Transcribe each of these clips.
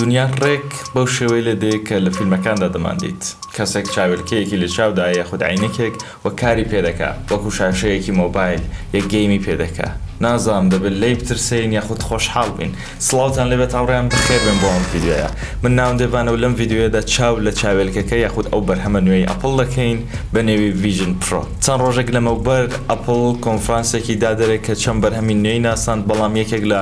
دونیا ڕێک بەو شێوەیە لێ دێ کە لە فیلمەکاندا دەماندەیت. کەسێک چاویلکەیەکی لە چاودایە یاخود عەینەکێک و کاری پێ دەکا، وەکو شاشەیەکی مۆبایل یە گەیمی پێ دەکا. نازانم دەبێ لێی بترسێین یاخود خۆشحاڵ بین. سڵاوتان لێ بێت هاوڕێیان بەخێر بێن بۆ ئەم ڤیدیۆیە. من ناوم دێڤانە و لەم ڤیدیۆیەدا چاو لە چاوێلکەکە یاخود ئەو بەرهەمە نوێی ئەپڵ دەکەین بە نێوی ڤیژن پرۆ. چەند ڕۆژێک لەمەوبەر ئەپڵ کۆنفرانسێکی دا دەرێ کە چەند بەرهەمی نوێی ناساند بەڵام یەکێک لە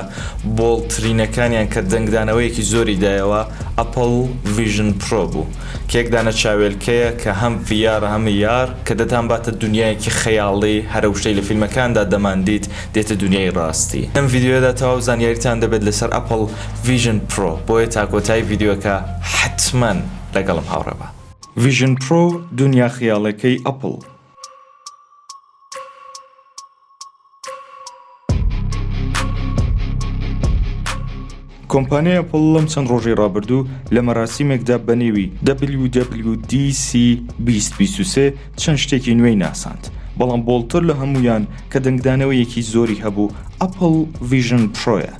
بۆڵترینەکانیان کە دەنگدانەوەیەکی زۆری دایەوە ئەپڵ ڤیژن پرۆ بوو کە یەک دانە چاوێلکەیە کە هەم ڤی ئارە هەم ئی ئار کە دەتانباتە دونیایەکی خەیاڵی هەرەوشەی لە فیلمەکاندا دەماندیت دێتە دونیای ڕاستی لەم ڤیدیۆیەدا تەواو زانیاریتان دەبێت لەسەر ئەپڵ ڤیژن پرۆ بۆیە تاکۆتایی ڤیدیۆکە حەتمەن لەگەڵم هاوڕێبە. ڤیژن پرۆ دونیا خەیاڵێکەی ئەپڵ. کۆمپانیای ئەپڵ لەم چەند ڕۆژی ڕابردوو لە مەراسیمێکدا بە نێوی WWDC2023 چەند شتێکی نوێی ناساند بەڵام بۆڵتر لە هەمویان کە دەنگدانەوەیەکی زۆری هەبوو ئەپل ڤژن پرۆیە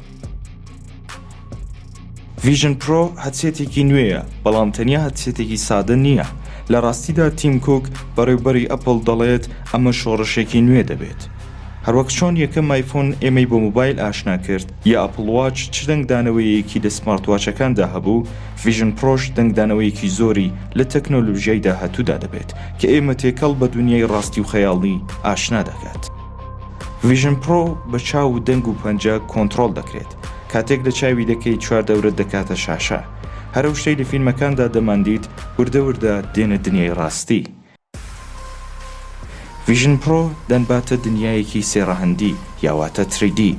ڤیژن پرۆ هەدسێتێکی نوێیە بەڵام تەنیا هەدسێتێکی سادە نییە لە ڕاستیدا تیم کوک بەڕێوبەری ئەپل دەڵێت ئەمە شۆڕشێکی نوێ دەبێت هەروەک چۆن یەکەم مایفۆن ئێمەی بۆ موبایل ئاشنا کرد یا ئەپڵواچ چ دەنگدانەوەیەکی لە سمارتواچەکاندا هەبوو ڤژن پرۆش دەنگدانەوەیەکی زۆری لە تەکنۆلوژیای داهاتوودا دەبێت کە ئێمە تێکەڵ بە دنیای ڕاستی و خەیاڵی ئاشنا دەکات. ڤژن پرۆ بە چاو و دەنگ و پەنجە کۆنتترۆل دەکرێت کاتێک لە چاوی دەکەیت چوار دەورەت دەکاتە شاشە هەر ئەو شتەی لە فیلمەکاندا دەماندیت وردە وردە دێنە دنیای ڕاستی. ڤیژن پرۆ دەنباتە دنیایەکی سێ ڕەهەندی یا واتە تری دی.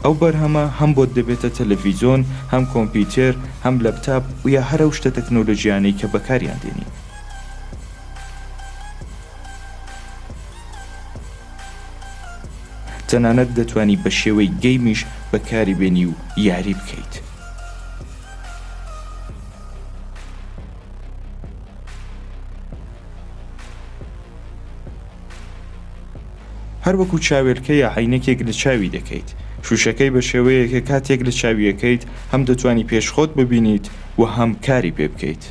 ئەو بەرهەمە هەم بۆت دەبێتە تەلەڤیزۆن، هەم کۆمپیوتێر، هەم لەپتاپ و یا هەر ئەو شتە تەکنۆلۆژیانەی کە بەکاریان دێنین. تەنانەت دەتوانی بە شێوەی گەیمیش بەکاری بێنی و یاری بکەیت. هەر وەکو چاوێلکە یا عینەکێک لە چاوی دەکەیت شوشەکەی بە شێوەیەکە کاتێک لە چاویەکەیت هەم دەتوانی پێش خۆت ببینیت و هەم کاری پێ بکەیت.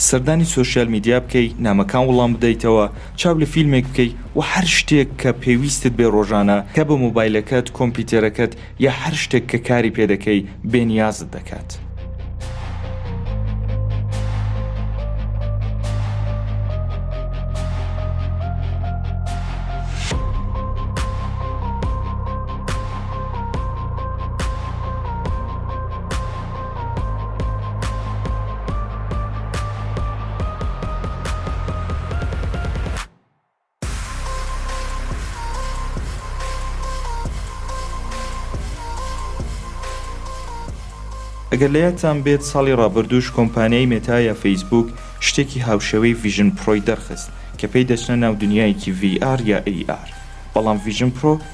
سەردانی سۆشیال میدیا بکەی نامەکان وڵام بدەیتەوە چاو لە فیلمێک بکەی و هەر شتێک کە پێویستت بێ ڕۆژانە کە بە مۆبایلەکەت کۆمپیوتەرەکەت یا هەر شتێک کە کاری پێ دەکەی بێ نیازت دەکات. ئەگەر لە یادتان بێت ساڵی ڕابردووش کۆمپانیای مێتا یا فەیسبووک شتێکی هاوشێوەی ڤیژن پڕۆی دەرخست کە پێی دەچنە ناو دنیایەکی VR یا AR بەڵام ڤیژن پڕۆ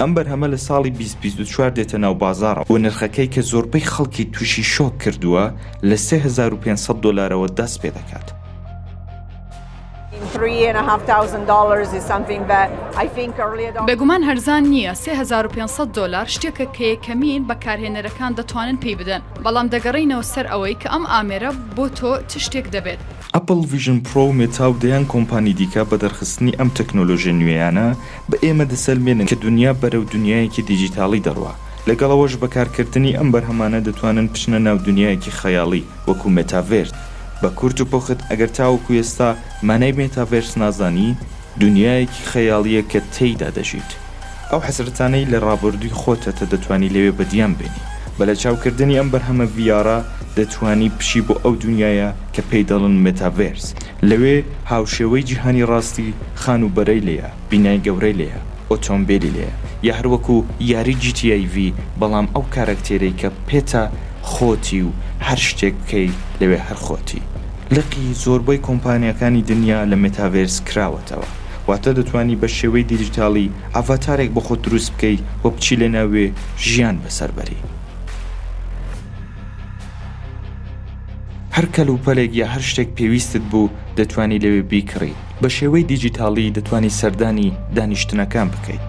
ئەم بەرهەمە لە ساڵی 2024 دێتە ناو بازارە و نرخەکەی کە زۆربەی خەڵکی تووشی شۆک کردووە لە 3500 دلارەوە دەست پێ دەکات. بێگومان هەرزان نییە، سێ هەزار و پێنج سەد دۆلار شتێکە کە یەکەمین بەکارهێنەرەکان دەتوانن پێی بدەن، بەڵام دەگەڕێینەوە سەر ئەوەی کە ئەم ئامێرە بۆ تۆ چ شتێک دەبێت. ئەپڵ ڤیژن پرۆ و مێتا و دەیان کۆمپانی دیکە بە دەرخستنی ئەم تەکنۆلۆژیە نوێیانە بە ئێمە دەسەلمێنن کە دونیا بەرەو دونیایەکی دیجیتاڵی دەڕوا، لەگەڵ ئەوەش بەکارکردنی ئەم بەرهەمانە دەتوانن بچنە ناو دونیایەکی خەیاڵی، وەکو مێتاڤێرس بە کورت و پوخت ئەگەر تاوەکو ئێستا مانای مێتاڤێرس نازانی دونیایەکی خەیاڵیە کە تێیدا دەژیت ئەو حەسرەتانەی لە ڕابوردوی خۆتەتە دەتوانی لەوێ بەدیان بێنی بە لە چاو کردنی ئەم بەرهەمە ڤی ئارە دەتوانی بچی بۆ ئەو دونیایە کە پێی دەڵن مێتاڤێرس لەوێ هاوشێوەی جیهانی ڕاستی خانوبەرەی لێیە بینای گەورەی لێیە ئۆتۆمبێلی لێیە یا هەروەکو یاری جی تی ئەی ڤی بەڵام ئەو کاراکتێرەی کە پێتە خۆتی و هەر شتێک بکەی لەوێ هەر خۆتی. لقی زۆربەی کۆمپانیاکانی دنیا لە مێتاڤێرس کراوەتەوە، واتە دەتوانی بە شێوەی دیجیتاڵی ئەڤاتارێک بۆ خۆت دروست بکەی و بچی لە ناوێ ژیان بەسەر بەری. هەر کەلوپەلێک یا هەر شتێک پێویستت بوو دەتوانی لەوێ بیکڕیت. بە شێوەی دیجیتاڵی دەتوانی سەردانی دانیشتنەکان بکەیت.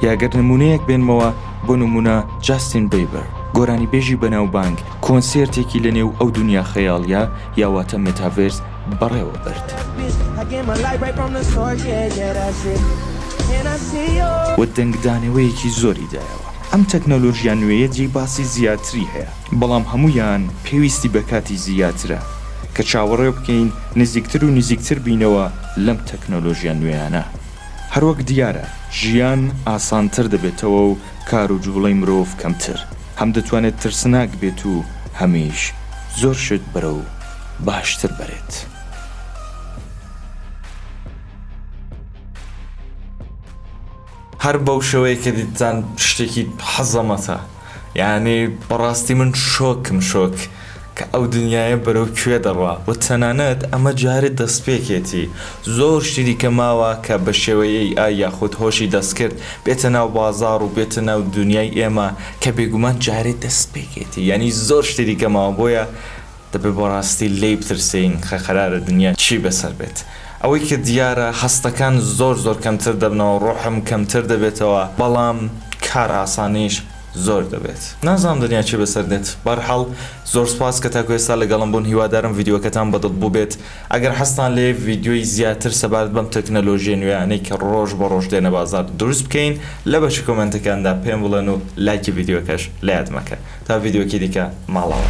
یاگەر نمونەیەک بێنمەوە بۆ نمونە جاستین بەیبەر گۆرانی بێژی بەناوبانگ کۆنسێرتێکی لە نێو ئەو دنیا خەیاڵە یاواتە متاڤێرس بەڕێوە برد و دەنگدانەوەیەکی زۆری دایەوە ئەم تەکنەلۆژیا نوێیە جێی باسی زیاتری هەیە بەڵام هەموویان پێویستی بە کاتی زیاترە کە چاوەڕێ بکەین نزیکتر و نزیکتر بینەوە لەم تەکنۆلۆژیا نوێیانە. هەروەک دیارە ژیان ئاسانتر دەبێتەوە و کار و جوڵەی مرۆڤ کەمتر، هەم دەتوانێت ترسناک بێت و هەمیش زۆر شت بەرەو باشتر بەرێت. هەر بەو شێوەیە کە دیتتان شتێکی حەزەمەتە یانی بەڕاستی من شۆکم شۆک کە ئەو دنیاە بەرەو کوێ دەڕوا و تەنانەت ئەمە جارێ دەستپێکێتی زۆر شتی دیکە ماوە کە بە شێوەی ئای یاخود هۆشی دەستکرد بێتە ناو بازاڕ و بێتە ناو دنیای ئێمە کە بێگومان جارێ دەستپێکێتی یانی زۆر شتی دیکە ماوە بۆیە دەبێ بۆ ڕاستی لێی بترسێین خە قەرارە دنیا چی بەسەر بێت. ئەوەی کە دیارە هەستەکان زۆر زۆر کەمتر دەبنەوە ڕۆحم کەمتر دەبێتەوە بەڵام کار ئاسانیش زۆر دەبێت نازانم دنیا چی بەسەر دێت بەرحاڵ زۆر سپاس کە تاکو ئێستا لەگەڵم بوون هیوادارم ڤیدیۆکەتان بە دڵ بووبێت ئەگەر حەزتان لێ ڤیدیۆی زیاتر سەبارەت بەم تەکنەلۆژیە نوێیانەی کە ڕۆژ بە ڕۆژ دێنە بازاڕ دروست بکەین لە بەشە کۆمێنتەکاندا پێم بڵێن و لایکی ڤیدیۆکەش لە یاد مەکەن. تا ڤیدیۆکی دیکە ماڵەوە.